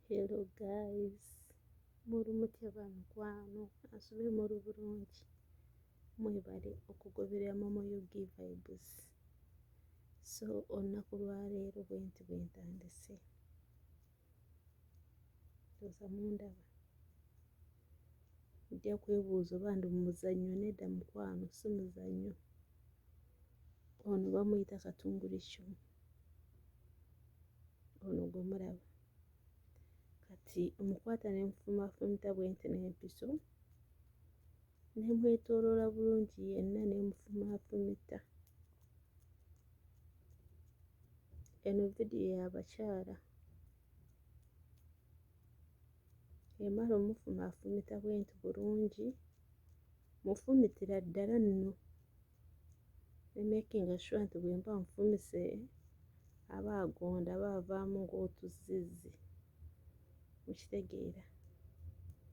Hello guys, muri mutya ba mikwano asube muri bulungi mwebale okugoberera momo ug vibes so olunaku lwaleero bwenti bwentandise ndowooza mundaba ojja kwebuuza oba ndi mumuzannyo nedda mukwano si muzannyo ono bamuyita katunguricu ono gwe mulaba kati omukwata ne mufumafumita bwe nti n'empiso ne mwetooloola bulungi yenna ne mufumafumita Eno vidiyo ya bakyala emala omufumaafumita bwenti bulungi mufumitira ddala nno ne making sure nti bwe mba nfumise aba agonda aba avaamu ng'otuzzizzi mukitegeera.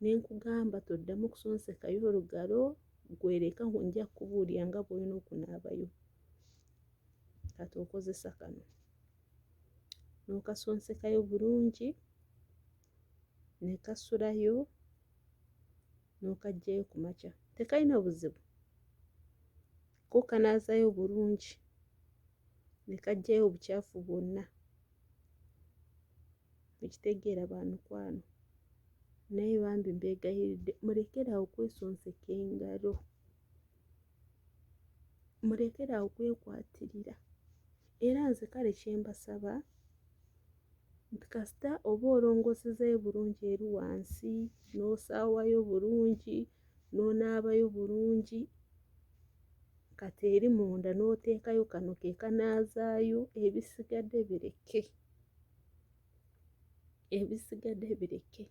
ne nkugamba toddamu kusonsekayo olugalo gwereka nja kukubuulira nga bw'olina okunaabayo kati okozesa kano n'okasonsekayo bulungi ne kasulayo n'okaggyayo ku makya tekalina buzibu ko kanaazayo bulungi ne kaggyayo obukyafu bwonna mukitegeera ba mikwano naye bambi mbeegayiridde mulekeraawo kwesonseka engalo mulekeraawo kwekwatirira era nze kale kyembasaba nti kasita oba olongosezayo bulungi eri wansi n'osaawayo bulungi n'onaabayo bulungi kati eri munda n'oteekayo kano ke kanaazaayo ebisigadde bireke. ebisigade bireke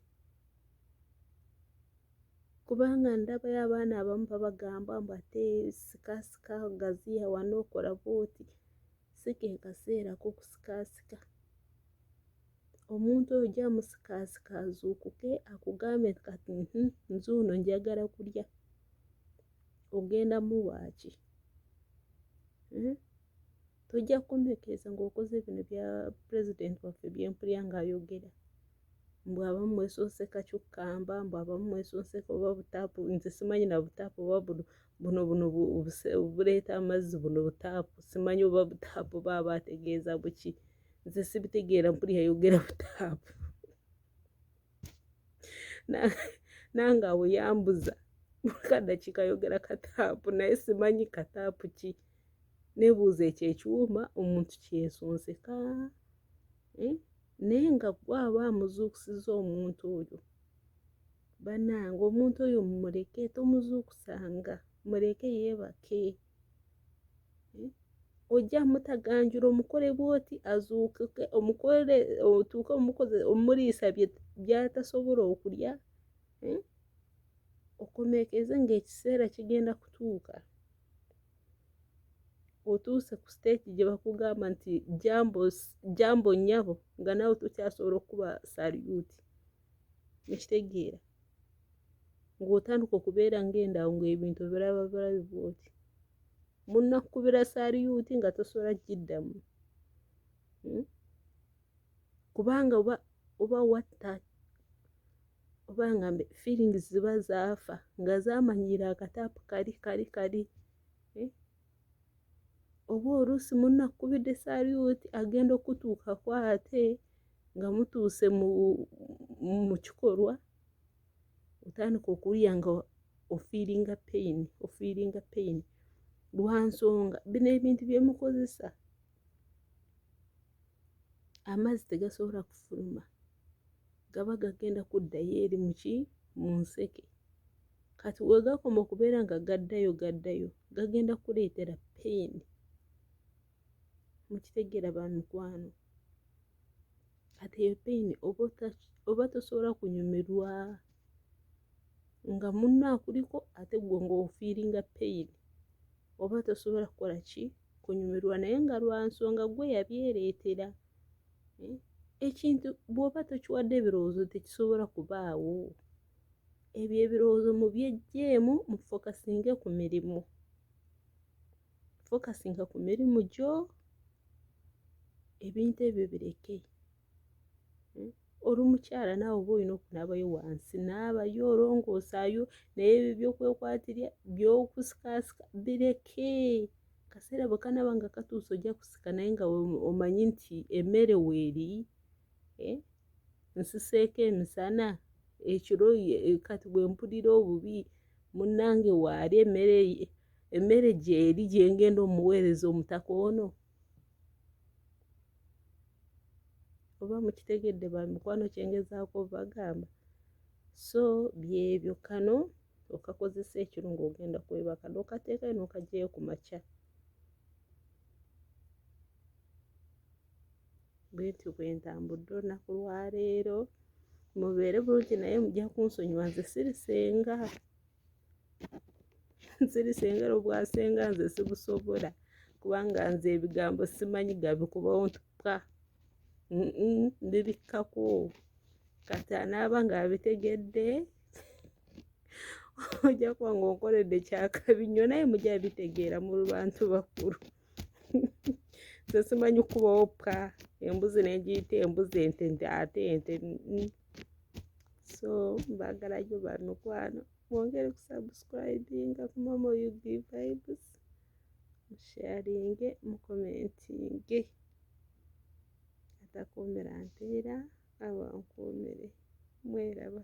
kubanga ndabayo abaana abamu babagamba mbu ate sikasika gaziya wano okola bwoti si ke kaseera kokusikasika omuntu oyo gyamusikasika azuukuke akugambe kati hmm, nze ono njagala kulya ogenda muwaaki hmm? tojja kumpekeeza ng'okoze bino bya pulezidenti waffe byempulya ng'ayogera mbu abamu mwesonseka kyukkamba mbu abamu mwesonseka oba butaapu nze simanyi na butaapu oba buno buno buno buleeta amazzi buno butaapu simanyi oba butaapu baaba ategeeza buki nze sibitegeera mpuli yayogera butaapu nange awo yambuza kadakika yogera kataapu naye simanyi kataapu ki nebuuza ekyo ekiwuma omuntu kyesonseka eh? naye nga gwe aba amuzuukusiza omuntu oyo banange omuntu oyo mumuleke tomuzuukusanga muleke yeebake eh? ojja mutaganjula omukole bwoti azuukuke omukole otuuke omukoze omuliisa byatasobola okulya eh? okomeekeze ngaekiseera kigenda kutuuka otuuse ku siteeki gye bakugamba nti jambo nnyabo nga naawe tokyasobola okukuba saliyuuti ekitegeera ng'otandika okubeera ng'endawo ng'ebintu biraba birabi bwoti munnakukubira saliyuuti nga tosobola kugiddamu hmm? kubanga oba oba watta oba nga feelings ziba zaafa nga zamanyiira akataapu kali kali kali eh? oba oluusi munakkubidde saluti agenda okutuukako ate nga mutuuse mu kikolwa otandika okuwulira nga ofiiringa peyini ofiiringa peyini lwa nsonga bino ebintu bye mukozesa amazzi tegasobola kufuluma gaba gagenda kuddayo eri muki mu nseke kati wegakoma okubeera nga gaddayo gaddayo gagenda kuleetera peyini mukitegeera ba mikwano kati eyo peyini oba tosobola kunyumirwa nga munno akuliko ate gwe ngaofiiringa peyini oba tosobola kukola ki kunyumirwa naye nga lwa nsonga gwe yabyereetera eh, ekintu bw'oba tokiwadde ebirowoozo tekisobola kubaawo ebyo ebirowoozo mu byejjeemu mu fokasinge ku mirimu fokasinga ku mirimu gyo ebintu ebyo bireke hmm? oli mukyala naawe oba olina okunaabayo wansi naabayo olongoosaayo naye ebyo byokwekwatirya byokusikaasika bireke kaseera bwe kanaaba nga katuusa ojja kusika naye nga omanyi nti emmere weeri eh? nsiseeko emisana ekiro eh, kati bwe mpulira obubi munnange waali emmere gyeri gyengenda omuweereza omutaka ono oba mukitegedde ba mikwano kyengezaako bagamba so byebyo kano okakozesa ekiro ng'ogenda kwebaka nokateekayo nokajeyo ku makya bwentyo bwentambudde olunaku lwaleero mubeere bulungi naye mujja kunsonyiwa nze sirisenga nsiri sengera obwasenga nze sibusobola kubanga nze ebigambo simanyi gabikubawo ntuka ndibikkako kati anaaba ng'abitegedde ojja kuba ng'onkoledde kyakabi nnyo naye mujja bitegeera mu bantu bakulu nze simanyi kukubawo ppa embuzi negiyita embuzi ente nti ate ente mm. so mbagalayo bamikwano mwongere kusubscribinga ku mama ug vibes musharinge mukomentinge atakuumira mpeera abankuumire mweraba